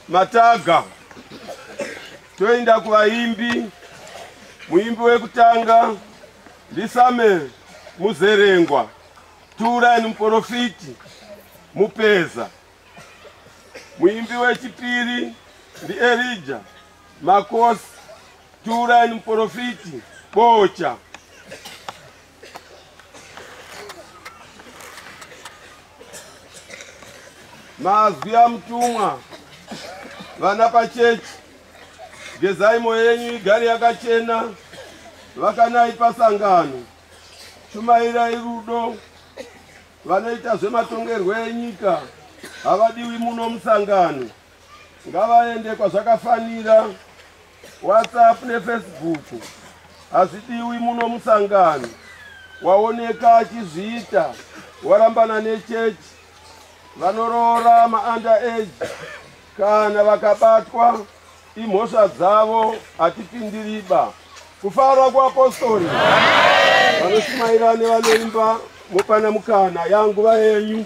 mataga toenda kuvaimbi muimbi wekutanga ndisame muzerengwa turan muporofiti mupeza muimbi wechipiri ndielija makosi turan muporofiti bocha mazwi amutumwa vana pachechi gezai moyo yenyu igari yakachena vakanai pasangano shumairai rudo vanoita zvematongerwo enyika havadiwi muno musangano ngavaende kwazvakafanira whatsapp nefacebook hazvidiwi muno musangano waoneka achizviita warambana nechechi vanoroora maanda age kana vakabatwa imhosva dzavo hatipindiriba kufara kuapostori vanoshumaira nevanoimba mopana mukana yanguva yenyu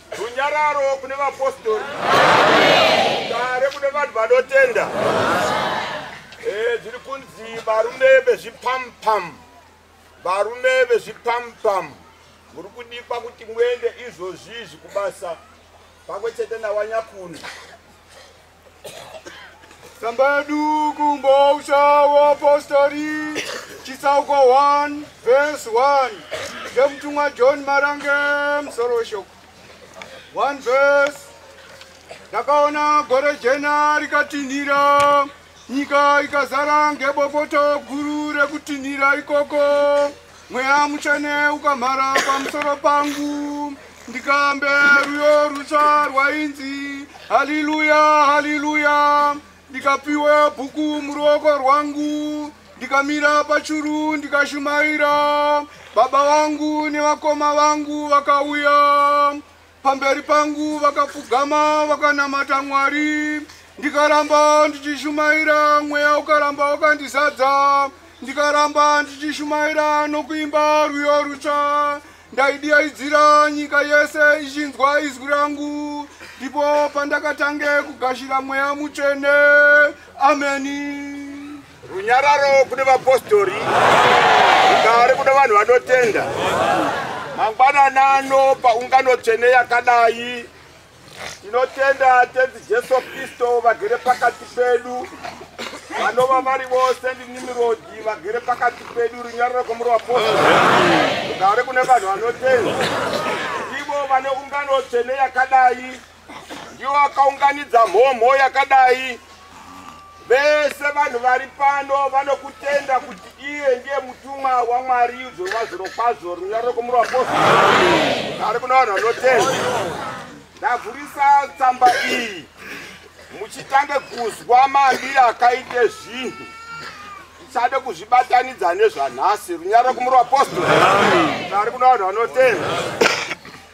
Runyararo kune vapostori. Dare kune vanhu vanotenda. Eh, zviri kunzi varume vezvipampam. Varume vezvipampam. Muri kudikwa kuti muende izvozvi zvekubasa. Pamwe chete nawanyakuno. Tsamba yedu kumbausha wapostori chitsauko 1 vhesi 1 ndemutumwa John Marange musoro weshoko 1 vhesi ndakaona gore jena rikatinhira nyika ikazara ngebopoto guru rekutinhira ikoko Mweya mutsvene ukamhara pamusoro pangu ndikambe ruyo rutsva rwainzi haliluya haliluya ndikapiwe bhuku muruoko rwangu ndikamira pachuru ndikashumaira baba vangu nevakoma vangu vakauya Pamberi pangu vakapfugama vakanamata Mwari, ndikaramba ndichishumaira, mweya ukaramba wakandizadza, ndikaramba ndichishumaira nokuimba rwiyo rutsva. Ndaidiyaidzira nyika yese ichinzwa izwi rangu, ndipo pandakatange kugashira mweya mutsvene. Ameni. Runyararo kune vapostori, rugare kune vanhu vanotenda. Mangwanana ano paungano tsvene yakadai, tinotenda tenzi Jesu Kristo vagere pakati pedu, vanova vari vose ndinimirodi vagere pakati pedu, runyararo kwamuri vapostori, rugare kune vanhu vanotenda, ivo vane ungano tsvene yakadai. ndiwo akaunganidza mhomho yakadai vese vanhu vari pano vanokutenda kuti iye ndiye mutumwa wamwari udzorwa zuro kwazvo runyariro kumurwa posi ari kuna vanhu vanotenda ndavhurisa tsamba iyi muchitange kuzwa mambiri akaite zvinhu tisade kuzvibatanidza nezvanhasi runyariro kumurwa posi ari kuna vanhu vanotenda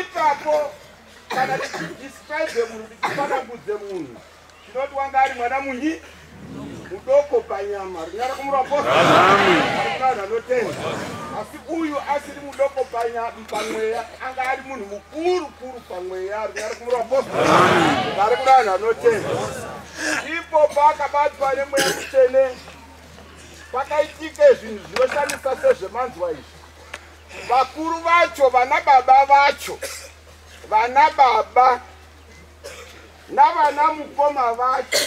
ipapo kana tichidescribe munhu tichifanagudze munhu tinoti wanga ari mwana munyi mudoko panyama rinyara kumurapoaana anotenda asi uyu asiri mudoko pamweya anga ari munhu mukuru kuru pamweya rinyara kumuraposta vari kurana anotenda ipo paakabatwa nemweya mutsvene pakaitika zvinhu zvinoshandisa sezvemanzwa izvi vakuru vacho vana baba vacho vana baba navana mukoma vacho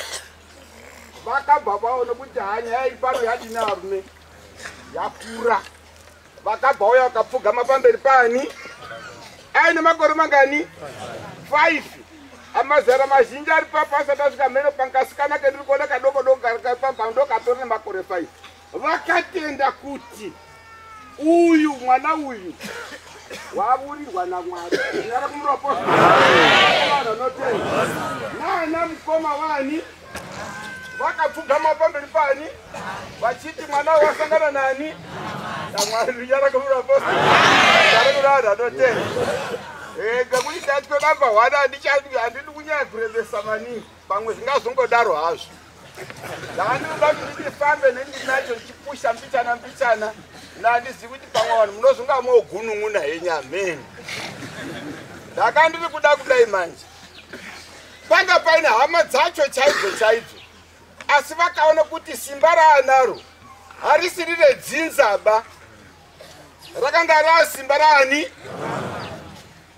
vakabva vaona kuti haa nyaya iri pano yadini arume yakura vakabva uya vakapfugama pamberi paani aine makore mangani five amazara mazhinji ari papo asati asvika mheno pankasikana kendiri kuona kadoko doko kari pamba ndokatori nemakore five vakatenda kuti uyu mwana uyu wavurirwa namwari nyara kumuroposa nana mukoma wani vakapfugama pamberi pani vachiti mwana wasangana nani namwari nyara kumuroposa nyara kurara anotenda eh, ngekuti ndatwe namba one handidi kunyaya kurevesa maningi pamwe zvingazongodaro hazvo ndaandinoda kuti ndifambe nendinacho ndichipusha mbichana mbichana nandizivi kuti pamwe vanhu munozonga mogunun'una henyu ameni ndakandiri kuda kudai manje panga paine hama dzacho chaidzo chaidzo asi vakaona kuti simba raanaro harisiri redzinzaba rakanga rava simba raani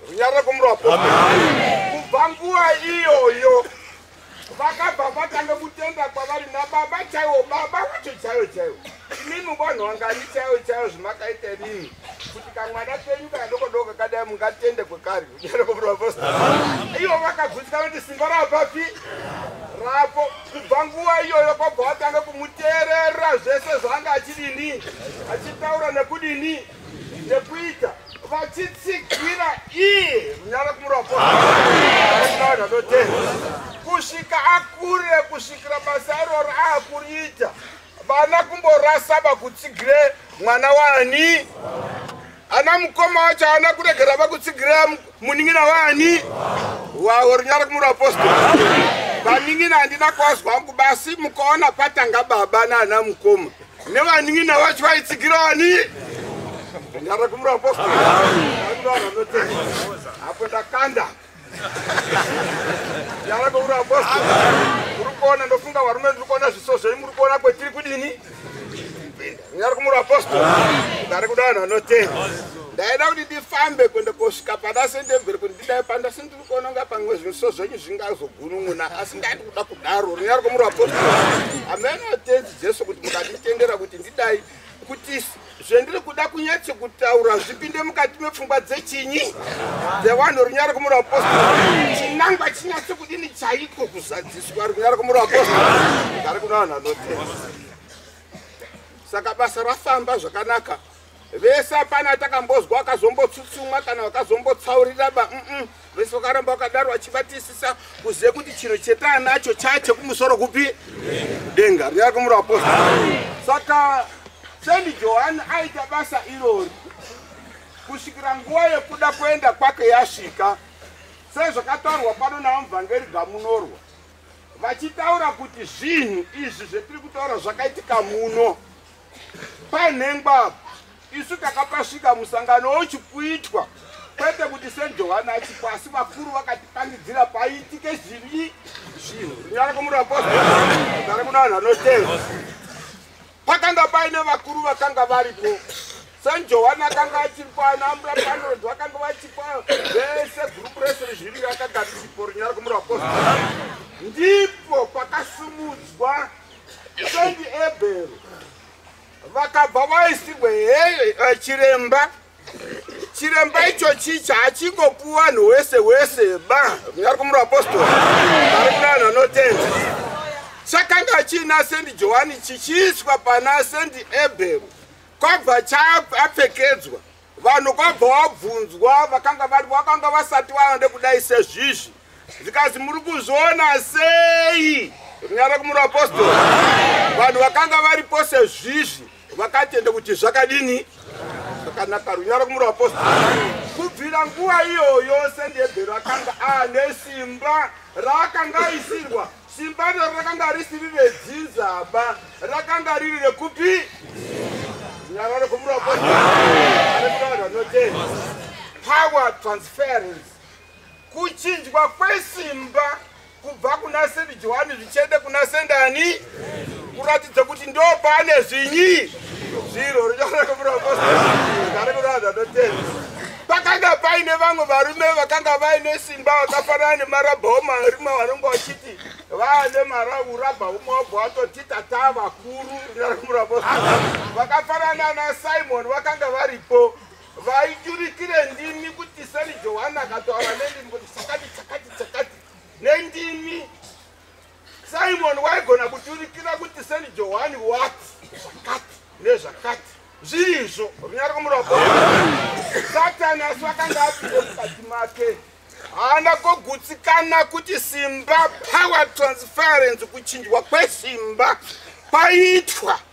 runyariro kumurapo kubva nguva iyoyo vakabva vatanga kutenda kwavari nababa chaiwo baba vacho chaiwo chaiwo imimi vanhu vangani chaiwo chaiwo zvimakaita rini kuti kamwana kenyu kana dokodoko kadai mungatende kwekari ivo vakagutsikana kuti simba rapapi rapo kubva nguva iyoyo kwabva vatanga kumuteerera zvese zvaanga achidini achitaura nekudini nekuita vachitsigira iye runyara kumurapo kusvika akure kusvikira basa iroro aakuriita vana kumborasa vakutsigire mwana wani ana mukoma wacho ana kuregera vakutsigire muningina wani wawo rinyara kumura apostol vaningina handina kwazwa wangu basi mukaona patanga baba naana mukoma nevaningina wacho vaitsigire wani rinyara kumura apostol apo ndakanda Yava kwauri apostle. Uri kuona ndofunga varume ndiri kuona zviso zvenyu muri kuona kwetiri kudini? Kupinda. Nyari kumuri apostle. Ndari kuda vanhu vanotenda. Ndaida kuti ndifambe kuenda kosvika pana sendemberi kuti ndidai panda asi ndiri kuona kunga pamwe zviso zvenyu zvingazogunun'una asi ndati kuda kudaro. Nyari kumuri apostle. Ameno tenzi Jesu kuti mukanditendera kuti ndidai kuti zvendiri kuda kunyatso kutaura zvipinde mukati mepfungwa dzechinyi dzevanhu runyara kumura wapostora chinangwa chinyatso kudini chaiko kuzadziswa runyara kumura wapostora gari kuna vanhu vanotenda saka basa rafamba zvakanaka vese apana atakambozwa akazombotsutsumwa kana vakazombotsaurira ba mm -mm. Vese vakaramba vakadaro vachibatisisa kuziva kuti chiro chetaanacho chaya chekumusoro kupi denga rinyara kumura apostle saka sendi johani aita basa irori kusvikira nguva yekuda kuenda kwake yasvika sezvakataurwa pano navamuvhangeri gamunorwa vachitaura kuti zvinhu izvi zvetiri kutaura zvakaitika muno Panhengwa isu takapasvika musangano wochikuitwa kwete kuti sejohani achiko asi vakuru vakatipangidzira paitike zvivi zvinhu kunyara kwomurapoari kuna vanhu vanoteva pakanga paine vakuru vakanga variko sejohani akanga achiripo anambura panod vakanga vachipa vese gurupu rese rezviri rakagarichipo runyara kwomurapoari ndipo pakasumudzwa Sendi Ebhero vakabva vaisirwe heyo eh, chiremba chiremba icho chicha hachingopuwa vanhu wese wese ba kunyari kumura apostori ari kuna vanhu vanotenda chakanga chiina sendi johani chichiiswa pana sendi ebhero kwabva chaapfekedzwa vanhu kwabva wabvunzwa vakanga vari vakanga vasati vaende kudai sezvizvi zvikanzi muri kuzviona sei runyara kumuri apostoli vanhu vakanga varipo sezvizvi vakatenda kuti zvakadini zvakanaka runyara kumuri apostoli kubvira nguva iyoyo sendebhero akanga ane simba raakanga aisirwa Simba iro rakanga risiri redzinzaba, rakanga riri rekupi? Nyara rekumura kwavo vanotenda. Power transference. Kuchinjwa kwesimba kubva kuna Saint Johani zvichienda kuna Sendani kuratidza kuti ndo pane zvinyi zviro richaona kumura kwavo vanotenda. Pakanga paine vamwe varume vakanga vaine simba vakafanana nemarabhauma arume vanenge vachiti vaane marabhauma wabva watoti tataa vakuru nyaramurabo vakafanana nasimoni vakanga varipo vaiturikire ndimi kuti sani johani akataura nendimi kuti chakati chakati chakati nendimi Simon waigona kuturikira kuti Saint Johani wati zvakati nezvakati zviri izvo runyari kumuroko satani asi vakanga apinde mukati make haana kogutsikana kuti simba power transference kuchinjwa kwesimba kwaitwa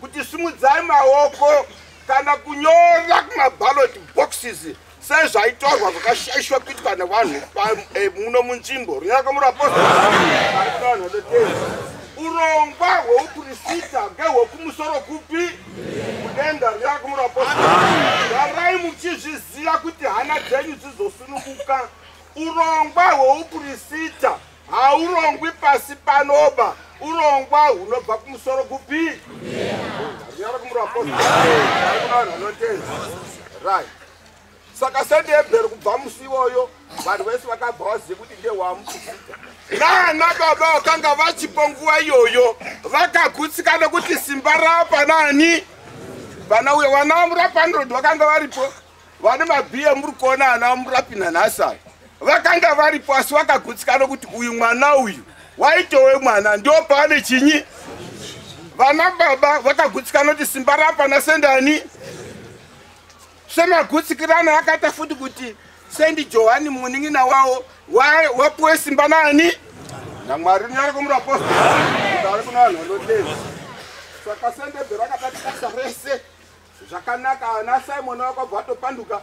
kuti simudzai maoko kana kunyora kumaballot boxes sei zvaitorwa zvakashaishwa kuitwa nevanhu eh, muno munzvimbo runyarakamurapostoaoteei urongwa hweupurisita ngehwekumusoro kupi kudenga runyarakamurapostoarai muchizviziva kuti hana dzenyu dzizosunukuka urongwa hweupurisita haurongwi pasi panoba urongwa hunobva kumusoro kupi saka sende yebhero kubva musi iwoyo vanhu vese vakabva vazive kuti ndewamukuita nana baba vakanga vachipo nguva iyoyo vakagutsikana kuti simba rapa nani vana uyo vana murapanirodi vakanga varipo vane mabhiya muri kuona ana murapi nanhasi aya vakanga varipo asi vakagutsikana kuti uyu mwana uyu waitowe mwana ndo paane chinyi vana baba vakagutsikana kuti simba rapana sendani semagutsikirana akaita futi kuti sendi johani munin'ina wawo wapuwe simba nani namwari unyari kumurapostori ari kuna vanhu vanodei saka sendebhero akatatikasa rese Zvakanaka ana Simon wakabva atopanduka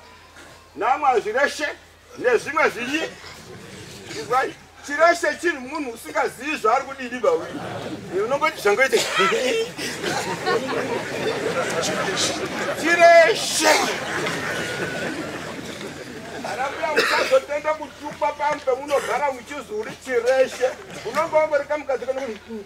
namwa zvireshe nezvimwe zvinyi izwai chireshe chiri munhu usingazivi zvaari kudidi bawi unongoti zvangoite chireshe anambuya musazotenda kutukwa pambe munogara muchizi uri chireshe unonge wangori kamukadzi kanokuti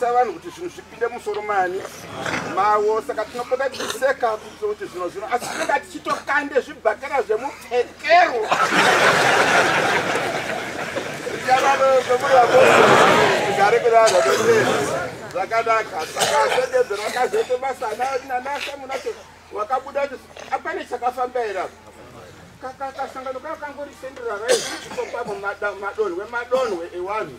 savanhu kuti zvinhu zvipinde musoro mani mawo saka tinopota tichiseka kuitira kuti zvino zvino asi tinonga tichitokande zvibhakera zvemupfekero igare kudada zvakanaka saka asendedzero akazoita basa nanasa munacho wakabuda kuti apane chakafamba here kakasangano kakangorisenderara iiokwapo madonhwe madonhwe ewanhu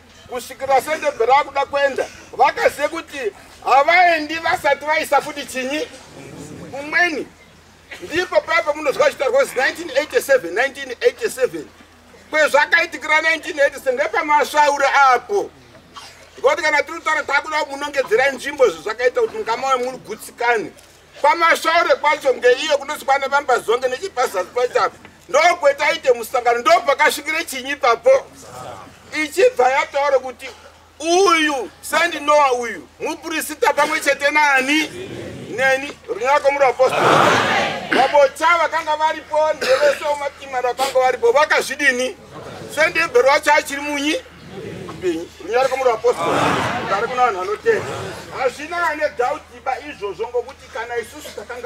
kusvikira sendebhe raakuda kuenda vakazive kuti havaendi vasati vaisa futi chinyi umweni ndipo paya pamunozwa chitaurwa kuti 1987 1987 kwezvakaitikira 1987 ndepamasvaura apo ngokuti kana tiri kutaura takuda munongedzera nzvimbo zvezvakaita kuti mukama wemuri gutsikane kwamashaure kwacho ngeiyo kunonzi kwane vambazonge nechipazasi pacho apo ndokwetaite musangano ndopakasvikire chinyi papo ichibva yataura kuti uyu sandinoa uyu mupurisita pamwe chete nani neni runako murapostori vabocha vakanga varipo ndevese umatima rakanga varipo vakazvidini sendebhero wacho achiri munyi runyari kwamuri apostoli ari kuna vanhu anotenda hazvina ane dhautiba izvozvo ngokuti kana isusu takanga